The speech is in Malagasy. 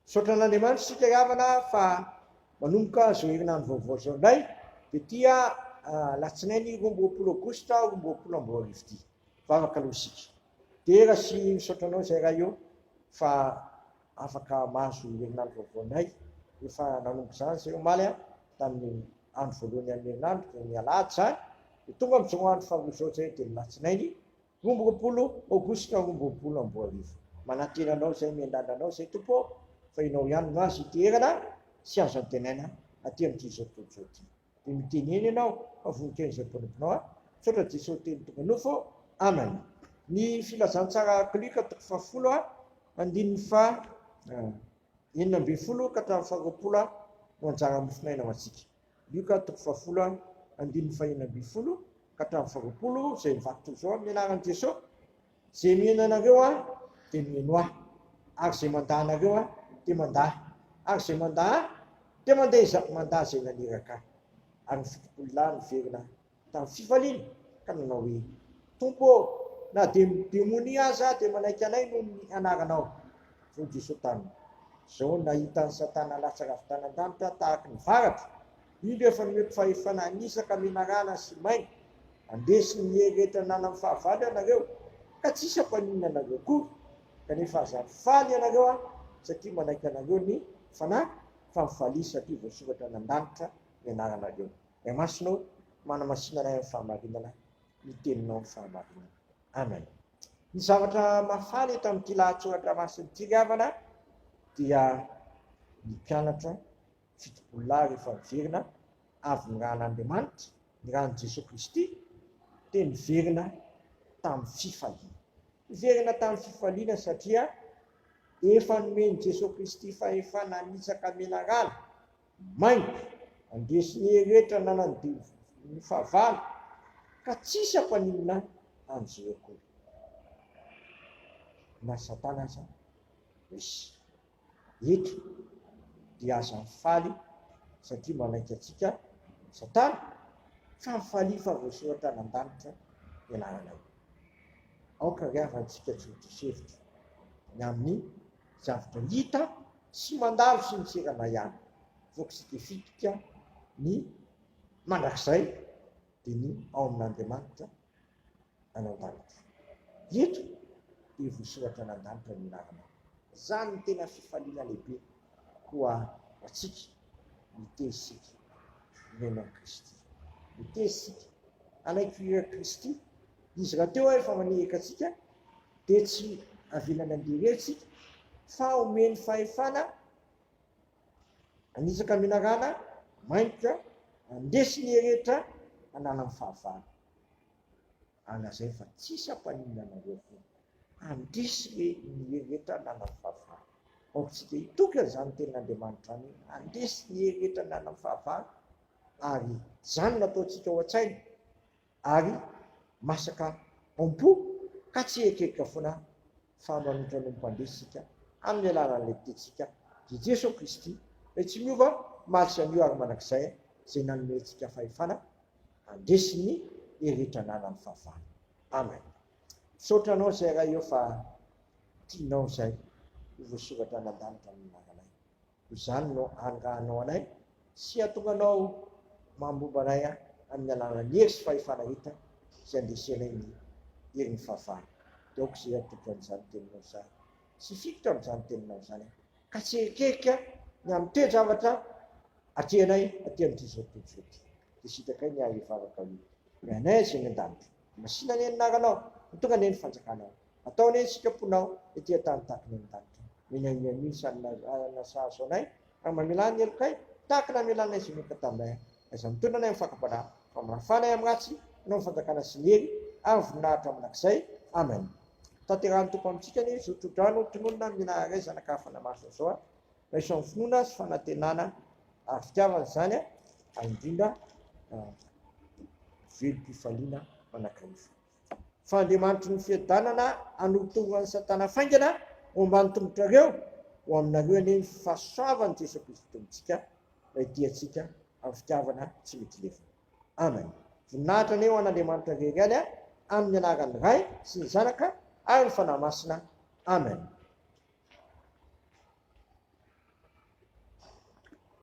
Misaotra an'Andriamanitra isika havana fa manomboka izao herinandro vaovao izao indray dia ity alatsinainy roa amby roapolo aogositra roa amby roapolo amby roa arivo ity. Vavaka aloha isika. Dera sy misaotra anao izay raha eo fa afaka mahazo herinandro vaovao indray rehefa nanomboka izany izay omaly a tamin'ny andro voalohany amin'ny herinandro dia ny alahady izany dia tonga amin'izao andro faharoa izao izay dia ny latsinainy Roa amby roapolo Aogositra roa amby roapolo amby roa arivo. Manantena Anao izay miandàndra Anao izay Tompo ô, fa Ianao ihany no azo iteherana sy azo antenaina aty amin'ity izao tontolo izao ity. Dia mitenena Ianao fa voninkaino izay mpanomponao ahy. Misaotra Jesosy Teny tonga nofo ô. Amen. Ny Filazantsara Klika toko fahafolo a, andininy faha enina ambin'ny folo ka hatramin'ny faha roapolo a, no anjaran'ny mofon'aina ho antsika. Lioka toko fahafolo a andininy fahenina ambin'ny folo ka hatramin'ny faharoapolo izay mivaky toy izao amin'ny anaran'i Jesoa, Izay miheno anareo Ahy dia miheno Ahy, ary izay mandà anareo Ahy dia mandà Ahy, ary izay mandà Ahy dia mandà izay mandà izay naniraka Ahy. Ary ny fito-polo lahy niverina Tamin'ny fifaliana ka nanao hoe, Tompo ô, na dia ny demonia aza dia manaiky anay noho ny anaranao. Hoy Jesoa taminy, Izao nahita an'i Satana latsaka avy tany an-danitra tahaky ny varatra, indro efa nomeko fahefana hanitsaka menarana sy maina, handresy ny hery rehetra ananan'ny fahavalo ianareo, ka tsy hisy hampaninona anareo akory, kanefa aza faly ianareo aho satria manaiky anareo ny Fanahy, fa mifalia satria voasoratra any an-danitra ny anaranareo. Ny Masina ô, manamasinana ahy amin'ny fahamarinana, ny Teninao no fahamarinana. Amen. Ny zavatra mahafaly eto amin'ity lahatsoratra masina ity ry havana dia ny mpianatra fitopolo lahy rehefa miverina avy ny ran'Andriamanitra, ny ran'i Jesoa Kristy, dia niverina tamin'ny fifaliana. Niverina tamin'ny fifaliana satria efa nomen'i Jesoa Kristy fahefana hanitsaka menarana. Mainty, andresy ny heretra nanandio ny fahavalo ka tsisy ampaninona anzy eo akory. Na satana aza misy eto dia aza mifaly satria manaiky antsika satana fa mifalia fa voasoratra any andanitra ny anarana eo. Aoka ry havantsika tsy ho diso hevitra ny amin'ny. zavatra hita sy mandalo sy miserana ihany. Voakisika fitika ny mandrakizay dia ny ao amin'Andriamanitra any an-danitra. Eto dia voasoratra any an-danitra ny anarana. Izany no tena fifaliana lehibe ho antsika miteny isika mihaino an'i Kristy. Miteny isika hanaiky ireo Kristy Izy rahateo ary fa maniraka antsika dia tsy avelany handeha irery isika fa omeny fahefana hanitsaka menarana maingotra handresy ny heretra hanala ny fahavalo. Alazainy fa tsisy hampaninona anareo akory. Handresy re ny heretra hanala ny fahavalo. Aoka isika hitoky an'izany tenin'Andriamanitra izany hoe handresy ny heretra hanala ny fahavalo ary izany no ataontsika ao an-tsaina. ary masaka ao am-po ka tsy hieritreritra foana fa manohitra ny Mpandresy isika amin'ny alalan'ny Letin-tsika dia Jesoa Kristy Ilay tsy miova omaly sy anio ary mandrakizay izay nanome antsika fahefana handresy ny herehetra ananan'ny fahavalo. Amen. Misaotra anao Zay Ray ô fa tianao izay ho voasoratra any an-danitra amin'ny anaranay. Toy izany no angahanao anay sy hahatonga anao mambomba anay amin'ny alalan'ny hery sy fahefana hita izay andesenay ny herin'ny fahavalo. Dia aoka izay atolotro an'izany teninao izany sy hifikitra amin'izany teninao izany aho, ka tsy hierikerika ny amin'ny toe-javatra atrehinay aty amin'itizao tontolo izao ity, dia sitrakay ny ahy hivavaka hoe, Ry Anay izay any an-danitra, masìna anie ny anaranao, ho tonga anie ny fanjakanao. Ataony hoe isika mponao ety an-tany takina eny an-danitra. Mila hihaino isany na na sahaza anay raha mamelà ny helokay tahaka ny namelanay sy Enoka taminay aiza mitondra anay amin'ny fakam-panahy fa mafà anay amin'ny ratsy hanao ny fanjakana sy ny hery ary voninahitra mandrakizay. Amen. Tanterahin'ny Tompo amintsika ny zotro-drano tononina mila aray zanaka hafa namaritra izao a! Raiso amin'ny finoana sy fanantenana ary fitiavana izany a! ary indrindra velom-pifaliana manakaifa. Fa Andriamanitry ny fiadanana hanoto an'i Satana faingana ho ambany tongotrareo, ho aminareo anie ny fahasoavan'i Jesoa Kristy Tompontsika, Ilay tiantsika amin'ny fitiavana tsy mety lefona. Amen. Voninahitra anie ho an'Andriamanitra Irery ihany a, amin'ny anaran'ny Ray sy ny Zanaka ary ny Fanahy Masina. Amen.